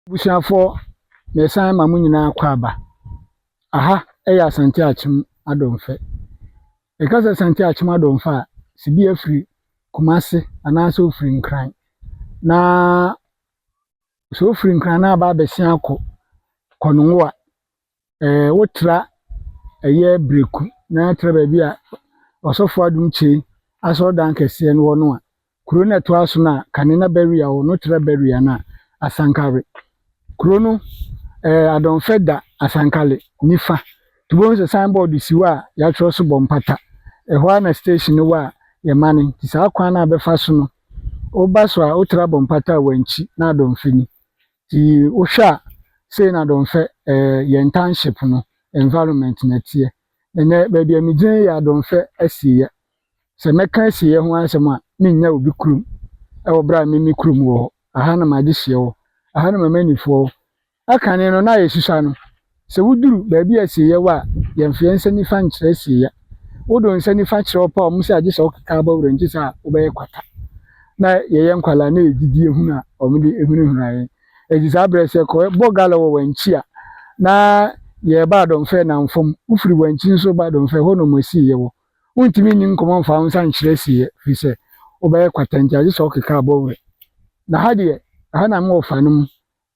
Abusuafoɔ mesan ma mo nyinaa akwaaba. Aha yɛ Asante Akyem Adɔmfɛ. Yɛka sɛ Asante Akyem Adɔmfɛ a, sɛ bi afiri Kumase anaasɛ ofiri Nkran na sɛ ofiri Nkran na aba abɛsen akɔ Kɔnongo a, wotra ɛyɛ breku na tra baabi a ɔsɔfo adum kyen asɔredan kɛseɛ no wɔ no a, kuro no a ɛtoa so no a kane na Berea wɔ no tra Berea no a, Asankare. Kuro no ɛɛ Adɔnfɛ da Asankale nifa. Nti wobɛhu sɛ signboard si hɔ a yɛatwerɛ so bɔ mpata. Ɛhɔ ara na station no wɔ a yɛmane. Nti saa kwan no a bɛfa so no, woba so a wotra bɔ mpata a wankyi na Adɔnfɛ ni. Ntsi wohwɛ a sei na Adɔnfɛ yɛn township no environment na ɛteɛ. Ndɛ baabi a megyina yi yɛ Adɔnfɛ asieyɛ. Sɛ mɛka asieyɛ ho asɛm a mennya obi kurom wɔ berɛ a me me kurom wɔ hɔ. Aha na m'adehyeɛ wɔ, aha na m'amannifoɔ wɔ. Ɛkane no na ayɛ susua no Sɛ woduru baabi a asieyɛ wɔ a, yɛ mfeɛ nsa nifa nkyerɛ asieyɛ. Wodo nsa nifa kyerɛ ɔpɛ a wɔsɛ agye sɛ wokeka bɔ werɛ nti saa wobɛyɛ kwata. Na yɛyɛ nkwadaa na yɛ gyidie hunu a wɔde hunahuna yɛn. Eti saa berɛ sɛ kɔ bɔ gala wɔ wankyi a na yɛ ba adɔmfɛ namfam. Wofiri wankyi nso ba adɔmfɛ hɔ na wɔn asieyɛ wɔ. Wontumi nni nkɔmmɔ mfa wonsa nkyerɛ asieyɛ firi sɛ wobɛyɛ kwata nti agye sɛ wokeka bɔ werɛ. Na ha deɛ ɛha na me wɔfa no mu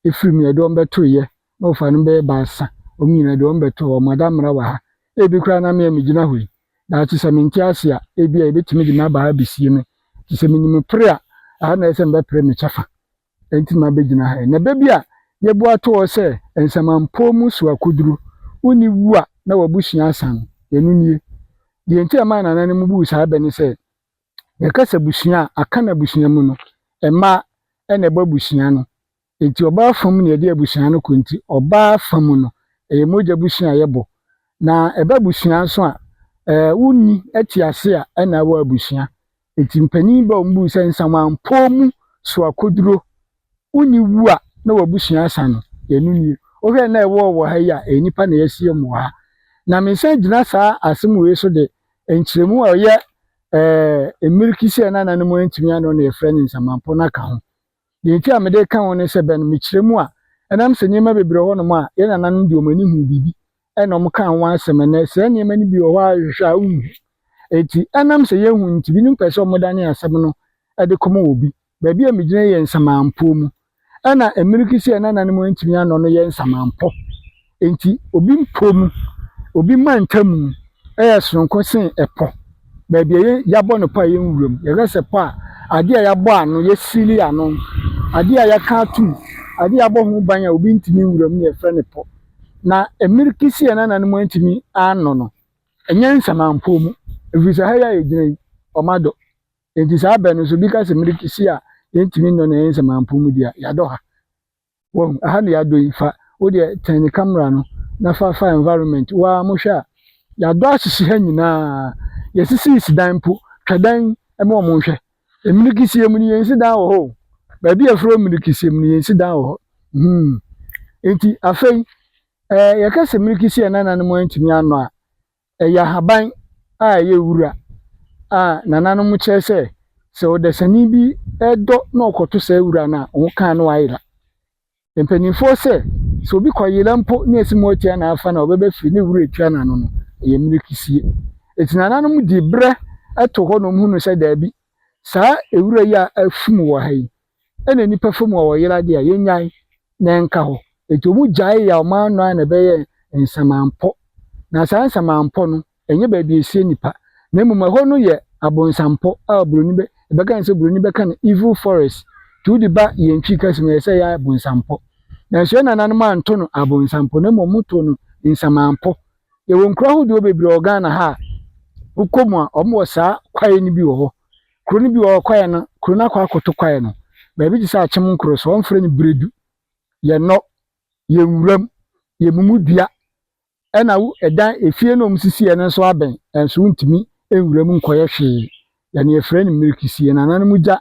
Efraim na ɛde wɔn bɛtoeɛ, na wɔfaa no bɛyɛ baasa, wɔn nyinaa de wɔn bɛtoo hɔ. Mo adammara wɔ ha. Ebi koraa na me a megyina hɔ yi, daakye sɛ mente ase a, ebia yɛbɛtumi de m'aba ha abɛsie me, te sɛ menim pere a, ɛha na ɛyɛ sɛ mebɛpere me kyɛfa. Enti mabɛgyina ha yi. Na da bi a yɛboa to hɔ sɛ nsamanpɔw mu so akoduru, wonni wu a na w'abusua asan. Ɛno nie. Deɛ enti a ɛmaa nananom buu saa bɛ ne sɛ, yɛka sɛ abusua a, Akan abusua mu no, mma na ɛbɔ abusua no. Enti ɔbaa fa mu na yɛde abusua no kɔ. Enti ɔbaa fa mu no, ɛyɛ mogya bosea a yɛbɔ. Na ɛba abusua nso a, ɛɛ wonni te ase a ɛna ɛwɔ abusua. Enti mpanin ba a wɔbuu sɛ Nsamanpɔw mu soakoduro wo nyi wu a na w'abusua asa no, ɛno nie. Wohwɛ nna a ɛwɔ wɔ ha yi a, ɛyɛ nnipa na yɛahyia mu wɔ ha. Na mensan gyina saa asɛm wei so de nkyerɛmu a ɔyɛ eh, mmirikisi a nananom antumi ano na yɛfrɛ no nsamanpɔ no aka ho. Deɛ nti a mede ka ho ne sɛ bɛn mekyerɛ mu a, ɛnam sɛ nneɛma bebree wɔ hɔnom a yɛn nananom de wɔn ani huu biribi ɛna wɔn kaa ho asɛm ɛnɛ saa nneɛma no bi wɔ hɔ a hwehwɛ a wonhu. Enti ɛnam sɛ yɛnhu nti binom pɛ sɛ wɔdane asɛm no de kɔma obi. Baabi a megyina yi yɛ nsamanpɔ mu. Ɛna mmirikisi a ɛna nane mu antumi anɔ no yɛ nsamanpɔ. Enti obi mpɔ mu, obi ma ntamu yɛ soronko sen ɛpɔ. Baabi a yɛabɔ no pɔ a ɛyɛ nwura mu. Yɛka sɛ pɔ a, adeɛ a yɛabɔ ano, yɛasili ano, adeɛ a yɛaka atom, adeɛ a yɛabɔ ho ban a obi ntumi nwura mu na yɛfrɛ no pɔ. Na mmirikisi a ɛna nane mu antumi anɔ no, ɛnyɛ nsamanpɔ mu. Ɛfiri sɛ ha yi a yɛgyina yi, wɔadɔ. Enti saa bɛ no so bi ka sɛ mereki si a yɛntumi nnɔ no ɛyɛ nsɛmanpon mu di a yɛadɔ ha. Wahu? Aha na yɛadɔ yi fa wo deɛ tɛn ne camera no na fa fa environment wo ara mo hwɛ a yɛadɔ ahyehye ha nyinaa yɛsisi si dan mpo twa dan ɛma wɔn nhwɛ emiriki sie mu no yɛn nsi dan wɔ hɔ o baabi a yɛfrɛ hɔ miriki sie mu no yɛn nsi dan wɔ hɔ hmm enti afei ɛɛ yɛka sɛ miriki sie a nananom antumi anɔ a Ɛyɛ ahaban a ɛyɛ wura a nananom kyerɛ sɛ sɛ ɔdasani bi dɔ na ɔkɔto saa wura no a, ɔho ka no ayera. Mpanimfoɔ sɛ, sɛ obi kɔyera mpo na ɛsi mu ɔretua no afa no a, ɔbɛba fie na wura atua no ano no, ɛyɛ mmirekisie. Enti nananom de berɛ to hɔ na wɔhunu sɛ daabi, saa wura yi a afum wɔ ha yi, ɛna nnipa fam a wɔyera deɛ a yɛnyae na ɛnka hɔ. Enti wɔn gyae yaw ma ano ara na ɛbɛyɛ nsamampɔ. Na saa nsamampɔ no, ɛnyɛ baabi a ɛsie nnipa, na mmom ɛhɔ no yɛ abonsampɔ a Buroni bɛ, yɛbɛka no sɛ Buroni bɛka no evil forest. Nti wode ba yɛn Twi kasa mu a, ɛyɛ sɛ ɛyɛ abonsampɔ. Nanso yɛn nananom anto no abonsampɔ, na mmom wɔtoo no nsamampɔ. Yɛwɔ nkuro ahodoɔ bebree wɔ Ghana ha a, wokɔ mu a, wɔwɔ saa kwaeɛ no bi wɔ hɔ. Kuro no bi wɔ hɔ kwaeɛ no, kuro no akɔ akɔto kwaeɛ no, baabi te sɛ Akyem nkuro so, wɔfrɛ no Biredu. Yɛnnɔ, yɛn nwuram, yɛn mumu dua, ɛna wo ɛdan, efie no a wɔsisiiɛ no nso abɛn, nanso wontumi nwura mu nkɔyɛ hwee. Yɛn na yɛfrɛ no Mmirikisi, yɛn nananom gya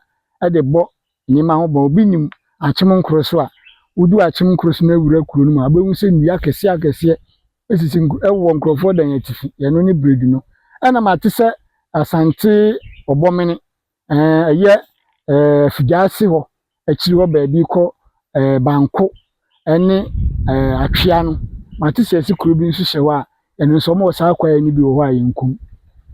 de bɔ Nneɛma ho bɔn, obi nim akyem nkoro so a, wodu akyem nkoro so na wura kuro no mu a, wobɛhu sɛ nnua akɛseɛ akɛseɛ sisi wɔ nkurɔfoɔ dan atifi, ɛno ne Beredu no. Ɛna mate sɛ Asante Ɔbɔmene, ɛyɛ Afigyaase hɔ akyiri hɔ baabi kɔ Banko ne atwea no, mate sɛ ɛse kuro bi nso hyɛ hɔ a, ɛno nso wɔwɔ saa kwaeɛ no bi wɔ hɔ a yɛnkum.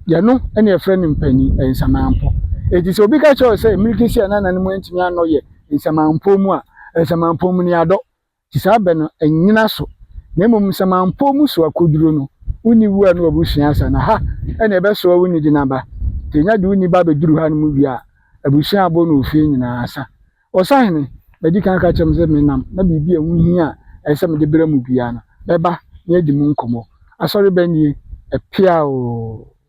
Deɛ no ɛna yɛfrɛ no mpanin nsamanpo. Eti sɛ obi ka kyerɛ wo sɛ mmirika si a na nananom antumi anɔ yɛ nsamanpo mu a, nsamanpo mu ne adɔ. Ti saa bɛ no ɛnyina so. Na mmom nsamanpo mu so akoduro no, wonni wu a na wabusua asa na ha ɛna ɛbɛsoa wo nidi n'aba. Ti nya de wo niba bɛduru ha no mu wie a, abusua abɔ no ofie nyinaa asa. Ɔsahene, madi kan aka akyerɛ mo sɛ menam, na biribi a ɛho hia a ɛsɛ sɛ mede brɛ mo biara no, mɛba na yɛadi mu nkɔmmɔ. Asɔre bɛn nie? Ɛpeaoo!